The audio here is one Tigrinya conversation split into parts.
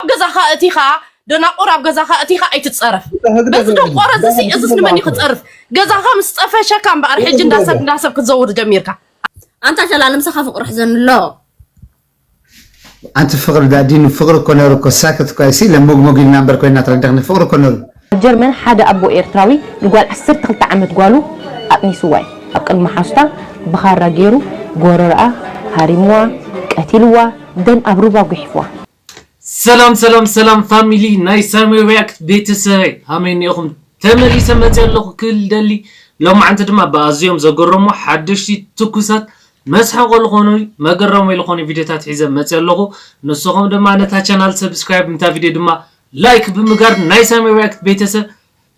ኣብ ገዛኻ እቲኻ ደናቁር ኣብ ገዛኻ እቲኻ ኣይትፀረፍ በዚ ደንቆሮ እዚ እዚስ ንመን እዩ ክፀርፍ ገዛኻ ምስ ፀፈሸካ እምበኣር ሕጂ እንዳሰብ እንዳሰብ ክትዘውር ጀሚርካ ኣንታ ሸላ ንምሳኻ ፍቅሪ ሕዘን ኣሎ ኣንቲ ፍቅሪ ዳዲኑ ፍቅሪ እኮ ነሩ እኮ ሳክት እኮ ኣይሲ ለሞግሞግ ኢልና እምበር ኮይና ትረዳኽኒ ፍቅሪ እኮ ነሩ ኣብ ጀርመን ሓደ ኣቦ ኤርትራዊ ንጓል 12 ዓመት ጓሉ ኣጥኒስዋ እዩ ኣብ ቅድሚ ሓሱታ ብኻራ ገይሩ ጎረርኣ ሃሪምዋ ቀቲልዋ ደም ኣብ ሩባ ጉሒፍዋ ሰላም ሰላም ሰላም ፋሚሊ ናይ ሳሚ ሪያክት ቤተሰበይ ሃመይ እኒኦኹም ተመሊሰ መፅየ ኣለኹ ክብል ይደሊ ሎማዓንቲ ድማ ብኣዝዮም ዘገረሙ ሓደሽቲ ትኩሳት መስሐቆ ልኾኑ መገረሞይ ልኾኑ ቪድዮታት ሒዘ መፅየ ኣለኹ ንስኹም ድማ ነታ ቻናል ሰብስክራይብ ንታ ቪድዮ ድማ ላይክ ብምጋር ናይ ሳሚ ሪያክት ቤተሰብ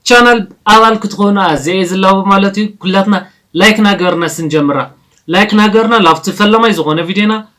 ቻናል ኣባል ክትኾኑ ኣዘየ ዝላቦ ማለት እዩ ኩላትና ላይክ ናገርና ስንጀምራ ላይክ ናገርና ላብቲ ፈለማይ ዝኾነ ቪድዮና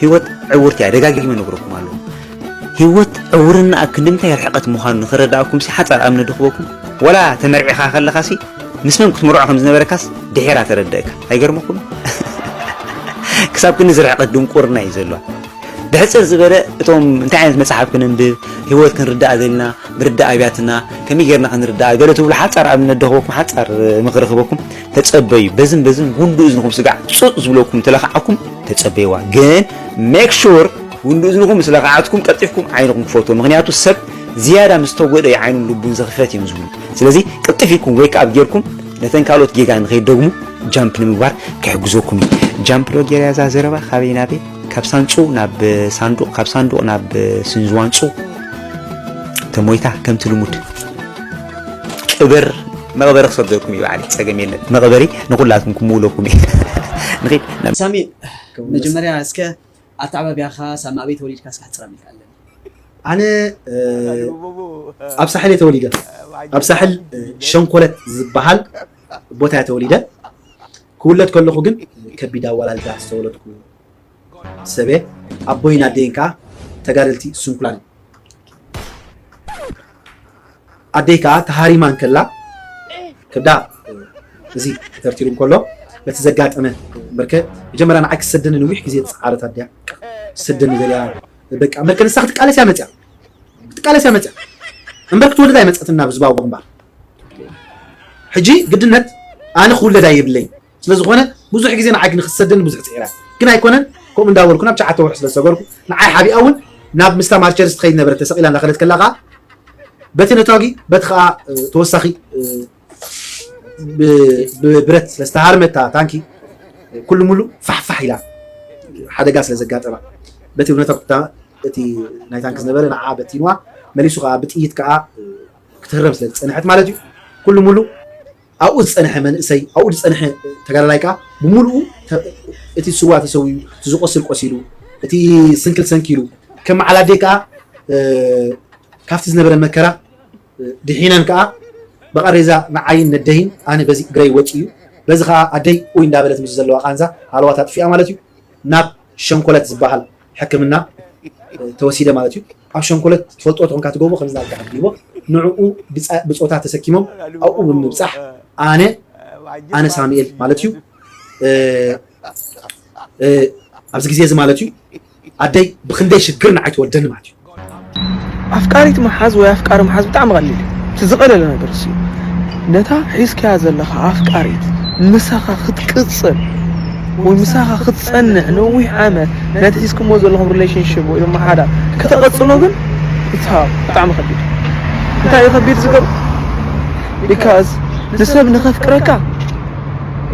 ሂወት ዕውርቲ እያ ደጋጊመ ነግረኩም ኣለኹ ሂወት ዕውርናኣ ክንድምታይ ርሕቐት ምዃኑ ንኽረዳኣኩምሲ ሓጻር ኣምነ ድኽበኩም ወላ ተመርዒኻ ከለኻሲ ምስ መን ክትምርዖ ከም ዝነበረካስ ድሒራ ተረደእካ ኣይገርመኩም ክሳብ ክንዲ ዝርሕቐት ድንቁርና እዩ ዘለዋ ብሕጽር ዝበለ እቶም እንታይ ዓይነት መጽሓፍ ክንንብብ ሂወት ክንርዳእ ዘለና ምርዳእ ኣብያትና ከመይ ጌርና ክንርዳእ ገለ ትብሉ ሓጻር ኣብነት ደኽበኩም ሓጻር ምኽሪ ክበኩም ተጸበዩ በዝን በዝን ጉንዲ እዝንኹም ስጋዕ ጹጥ ዝብለኩም እንተለካዓኩም ተጸበይዋ ግን ሜክ ሹር ጉንዲ እዝንኹም ምስ ለካዓትኩም ቀልጢፍኩም ዓይንኹም ክፈትዎ ምክንያቱ ሰብ ዝያዳ ምስ ተጎደ እዩ ዓይኑን ልቡን ዘኽፈት እዮም ዝብሉ ስለዚ ቅልጥፍ ኢልኩም ወይ ከኣብ ጌርኩም ነተን ካልኦት ጌጋ ንኸይደግሙ ጃምፕ ንምግባር ክሕግዘኩም እዩ ጃምፕ ዶ ጌርያ እዛ ዘረባ ካበይ ናበይ ካብ ሳንጹ ናብ ሳንዱቕ ካብ ሳንዱቕ ናብ ስንዝዋንጹ ተሞይታ ከምቲ ልሙድ ቅበር መቅበሪ ክሰደኩም እየ ባዕለይ ፀገም የለን መቅበሪ ንኩላትኩም ክምውለኩም እየ ንኪድ ሳሚ መጀመርያ እስከ ኣተዓባብያኻ ሳሚ ኣበይ ተወሊድካ እስከ ኣሕፅረኒ ኢልካ ኣለኒ። ኣነ ኣብ ሳሕል እየ ተወሊደ ኣብ ሳሕል ሸንኮለት ዝባሃል ቦታ እየ ተወሊደ ክውለድ ከለኩ ግን ከቢድ ኣዋላልዳ ዝተወለድኩ። ሰበ ኣቦይን ኣደይን ከኣ ተጋደልቲ ስንኩላን እዮም። ኣደይ ከኣ ተሃሪማ እንከላ ከብዳ እዚ ተተርቲሩ እንከሎ በቲ ዘጋጠመ በርከ መጀመርያ ንዓይ ክትሰደኒ ንዊሕ ግዜ ዝጸዓረት ኣደያ ክትሰደኒ ደልያ በቃ በርከ ንሳ ክትቃለስ እያ መጽያ ክትቃለስ እያ መጽያ እምበር ክትወልድ ኣይመጸትን ናብ ህዝባዊ ግንባር ሕጂ ግድነት ኣነ ክውለድ ኣይብለይ ስለዝኾነ ብዙሕ ግዜ ንዓይ ክንክሰደኒ ብዙሕ ፅዒረ ግን ኣይኮነን ከምኡ እንዳበልኩ ናብ ትሽዓተ ወርሒ ስለዝሰገርኩ ንዓይ ሓቢኣ እውን ናብ ምስታ ማርቸርስ ትኸይድ ነበረት ተሰቂላ እንዳኸደት ከላ ከዓ በቲ ነታጊ በቲ ከዓ ተወሳኺ ብብረት ስለዝተሃርመታ ታንኪ ኩሉ ሙሉ ፋሕፋሕ ኢላ ሓደጋ ስለዘጋጠማ በቲ ነታጉታ እቲ ናይ ታንኪ ዝነበረ ንዓ በቲንዋ መሊሱ ከዓ ብጥይት ከዓ ክትህረም ስለዝፀንሐት ማለት እዩ ኩሉ ሙሉ ኣብኡ ዝጸንሐ መንእሰይ፣ ኣብኡ ዝጸንሐ ተጋዳላይ ከኣ ብምሉኡ እቲ ዝስዋእ ተሰዊኡ፣ እቲ ዝቖስል ቆሲሉ፣ እቲ ዝስንክል ሰንኪሉ፣ ከም መዓል ኣደይ ከኣ ካብቲ ዝነበረ መከራ ድሒነን ከኣ ብቓሬዛ ንዓይን ነደይን ኣነ በዚ እግረይ ወጺኡ በዚ ከኣ ኣደይ ኡይ እንዳበለት ምስዚ ዘለዋ ቃንዛ ሃለዋት ኣጥፊኣ ማለት እዩ ናብ ሸንኮለት ዝበሃል ሕክምና ተወሲደ ማለት እዩ። ኣብ ሸንኮለት ትፈልጥዎ ተኾንካ ትገብሮ ከምዚ ናትካ ሕክምዎ ንዕኡ ብጾታ ተሰኪሞም ኣብኡ ብምብጻሕ ኣነ ኣነ ሳሙኤል ማለት እዩ ኣብዚ ግዜ እዚ ማለት እዩ ኣደይ ብክንደይ ሽግር ንዓይ ትወልደኒ ማለት እዩ። ኣፍቃሪት ምሓዝ ወይ ኣፍቃሪ ምሓዝ ብጣዕሚ ቀሊል እዩ እቲ ዝቐለለ ነገር እሱ እዩ ነታ ሒዝካያ ዘለኻ ኣፍቃሪት ምሳኻ ክትቅጽል ወይ ምሳኻ ክትጸንዕ ነዊሕ ዓመት ነቲ ሒዝክሞ ዘለኹም ሪሌሽንሽፕ ወይ ድማ ሓዳር ከተቐጽሎ ግን እታ ብጣዕሚ ከቢድ እንታይ እዩ ከቢድ ዝገብር ቢካዝ ንሰብ ንኸፍቅረካ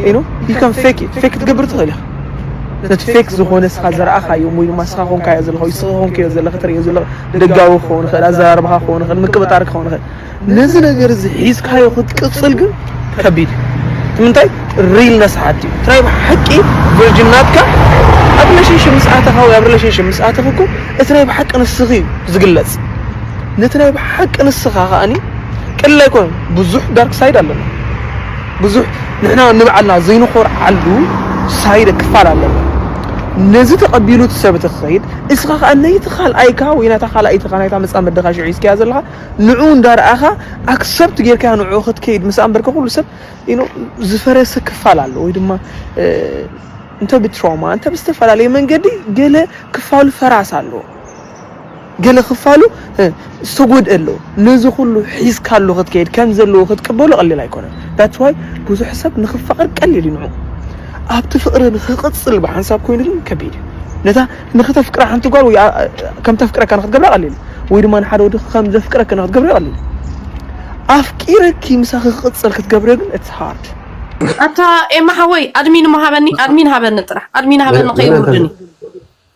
ኢኖ ዩ ከም ፌክ ፌክ ክትገብር ትኽእል ኢኻ ነቲ ፌክ ዝኾነ ንስኻ ዝረኣኻዮ ወይ ድማ ንስኻ ኮንካዮ ዘለኻ ወይ ንስኺ ኮንክዮ ዘለኺ ትርእዮ ዘለኺ ደጋዊ ክኸውን ይኽእል፣ ኣዘራርባኻ ክኸውን ይኽእል፣ ምቅብጣር ክኸውን ይኽእል። ነዚ ነገር እዚ ሒዝካዮ ክትቅጽል ግን ከቢድ እዩ። እቲ ምንታይ ሪልነስ ሓትዩ እቲ ናይ ብሓቂ ቨርጅን ናትካ ኣብ ሪሌሽንሽፕ ምስ ኣተኻ ወይ ኣብ ሪሌሽንሽፕ ምስ ኣተኺ እኮ እቲ ናይ ብሓቂ ንስኺ እዩ ዝግለጽ። ነቲ ናይ ብሓቂ ንስኻ ከኣኒ ቀሊል ኣይኮነን። ብዙሕ ዳርክ ሳይድ ኣለና። ብዙሕ ንሕና ንባዕልና ዘይንኾርዓሉ ሳይድ ክፋል ኣለና። ነዚ ተቐቢሉ እቲ ሰብ እቲ ክኸይድ እስኻ ከኣ ነይቲ ካልኣይካ ወይ ናታ ካልኣይትኻ ናይታ መጻምድኻ ሽዑ ሒዝካያ ዘለኻ ንዕኡ እንዳርኣኻ ኣክሰፕት ጌርካያ ንዕኡ ክትከይድ ምስ ኣንበርካ ኩሉ ሰብ ኢኖ ዝፈረሰ ክፋል ኣሎ ወይ ድማ እንተ ብትሮማ እንተ ብዝተፈላለየ መንገዲ ገለ ክፋሉ ፈራስ ኣሎ። ገለ ክፋሉ ዝተጎድእ ኣሎ ነዚ ኩሉ ሒዝካ ኣሎ ክትከይድ ከም ዘለዎ ክትቅበሎ ቀሊል ኣይኮነን ዳትስ ዋይ ብዙሕ ሰብ ንክፋቅር ቀሊል እዩ ንዑ ኣብቲ ፍቅሪ ንክቅጽል ብሓንሳብ ኮይኑ ግን ከቢድ እዩ ነታ ንክተፍቅራ ሓንቲ ጓል ወይ ከም ተፍቅረካ ንክትገብራ ቀሊል ወይ ድማ ንሓደ ወዲ ከም ዘፍቅረክ ንክትገብረ ቀሊል ኣፍቂረኪ ምሳኺ ክቅጽል ክትገብረ ግን ኢትስ ሃርድ ኣታ ኤማ ሓወይ ኣድሚን ሃበኒ ኣድሚን ሃበኒ ጥራሕ ኣድሚን ሃበኒ ከይውርድኒ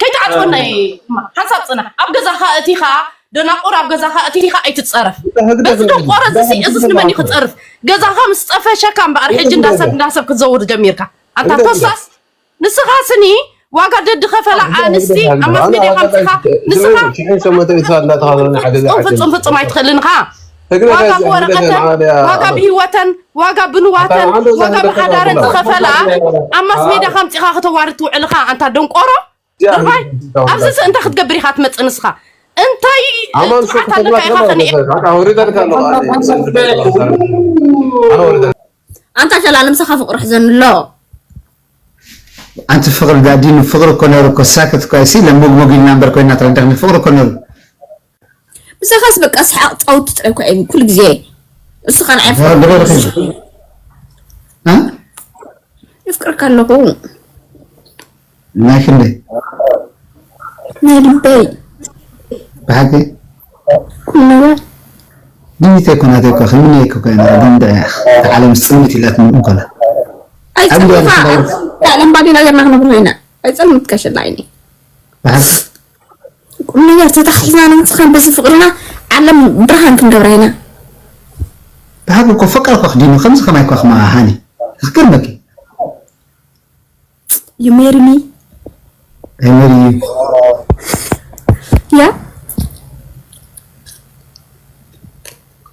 ከይትዓጽወና ሓንሳብ ጽናሕ ኣብ ገዛኻ እቲኻ ደናቁር ኣብ ገዛኻ እቲኻ ኣይትጸረፍ በዚ ደንቆሮ እዚ እዚስ ንመን እዩ ክጸርፍ ገዛኻ ምስ ጸፈሸካ እምበኣር ሕጂ እንዳሰብ እንዳሰብ ክትዘውር ጀሚርካ ኣታ ኮሳስ ንስኻ ስኒ ዋጋ ደዲ ከፈላ ኣንስቲ ኣብ ማስ ሜድያ ከምፅኻ ንስኻ ፍፁም ፍፁም ኣይትኽእልን ኢኻ ዋጋ ብወረቀተን ዋጋ ብሂወተን ዋጋ ብንዋተን ዋጋ ብሓዳረን ዝኸፈለኣ ኣብ ማስ ሜድያ ከምፂኻ ክተዋርድ ትውዕል ኢኻ ኣንታ ደንቆሮ ድርባይ ኣብዚ ስ እንታይ ክትገብር ኢኻ ትመፅእ ንስኻ እንታይ ፅዓት ኣለካ ኢኻ ከንኤ ኣንታ ሸላሊ ምሳኻ ፍቅሪ ሕዘን ኣሎ ኣንቲ ፍቅሪ ዳዲኑ ፍቅሪ እኮ ነይሩ እኮ ሳክት እኮ ኣይሲ ለሞግሞግ ኢልና እምበር ኮይና ትረዳኽኒ ፍቅሪ እኮ ነይሩ ምሳኻስ በቃ ሰሓቕ ጻውቲ ጥራይ እኳ እየ ኩሉ ግዜ ንስኻ ንዓይ የፍቅረካ ኣለኹ ናይ ክንደይ ናይ ልበይ ብሓቂ ኩሉ ነገር ድሚተ ኮናተ እኳ ክንምነ እኮ ኮይና ግን ድዕያ ዓለም ጽልምት ኢላ ትምርም ኮላ ኣይጸልምካ ዓለም ባዴና ገርና ክነብር ኮይና ኣይጸልምትካ ሸላ ዓይኒ ብሓቂ ቁምነገር ተታሓሒዝና ንምስኻን በዚ ፍቅርና ዓለም ብርሃን ክንገብራ ኢና። ብሃቂ እኮ ፍቅር እኮ ክዲኖ ከምዚ ከማይ እኮ ክማኣ ሃኒ ክገርመኪ ዩ ሜሪ ሚ ኣይ ሜሪ ዩ ያ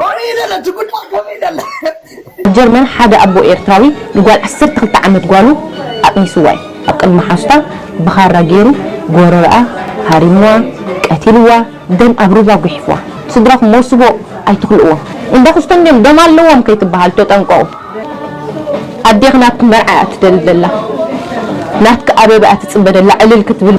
ኮንዩ ደለ እቲ ጉዳይ ከምይ ደለ። ኣብ ጀርመን ሓደ ኣቦ ኤርትራዊ ንጓል ዓሰርተ ክልተ ዓመት ጓሉ ኣቅኒስዋ እዩ። ኣብ ቅድሚ ሓዙታ ብኻራ ጌሩ ጎረረኣ ሃሪምዋ ቀቲልዋ ደም ኣብ ሩባ ጉሒፍዋ። ስድራኹም ሞስቦ ኣይትኽልእዎም እንዳ ኩስቶም ድዮም ደም ኣለዎም ከይትበሃሉ ተጠንቀቁ። ኣዴኺ ናትኪ መርዓ እያ ትደሊ ዘላ ናትኪ ኣበባ እያ ትጽበ ደላ ዕልል ክትብል።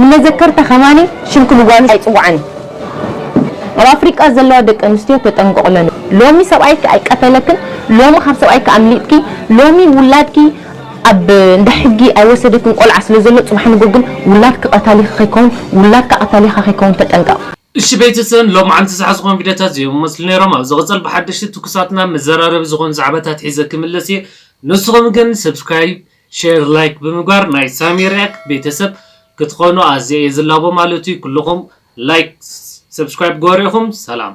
ንመዘከርታ ከማን ሽንክ ንጓሉ ኣይጽውዓን እዩ ኣብ ኣፍሪቃ ዘለዋ ደቂ ኣንስትዮ ተጠንቀቅለን ሎሚ ሰብኣይኪ ኣይቀተለክን ሎሚ ካብ ሰብኣይኪ ኣምሊጥኪ ሎሚ ውላድኪ ኣብ እንዳ ሕጊ ኣይወሰደክን ቆልዓ ስለ ዘሎ ጽባሕ ንግሆ ግን ውላድኪ ቀታሊኪ ከይከውን ውላድካ ቀታሊካ ከይከውን ተጠንቀቅ። እሺ ቤተሰን ሎምዓንቲ ዝሓዝኮም ቪድዮታት እዚኦም ይመስሉ ነይሮም ኣብ ዝቅጽል ብሓደሽቲ ትኩሳት እና መዘራረቢ ዝኮኑ ዛዕባታት ሒዘ ክምለስ እየ ንስኩም ግን subscribe ሼር ላይክ ብምግባር ናይ ሳሚ ሪኣክት ቤተሰብ ክትኾኑ ኣዝየ እየ ዝላቦ ማለት እዩ ኩሉኹም ላይክ ሰብስክራይብ ግበሩ ኢኹም ሰላም።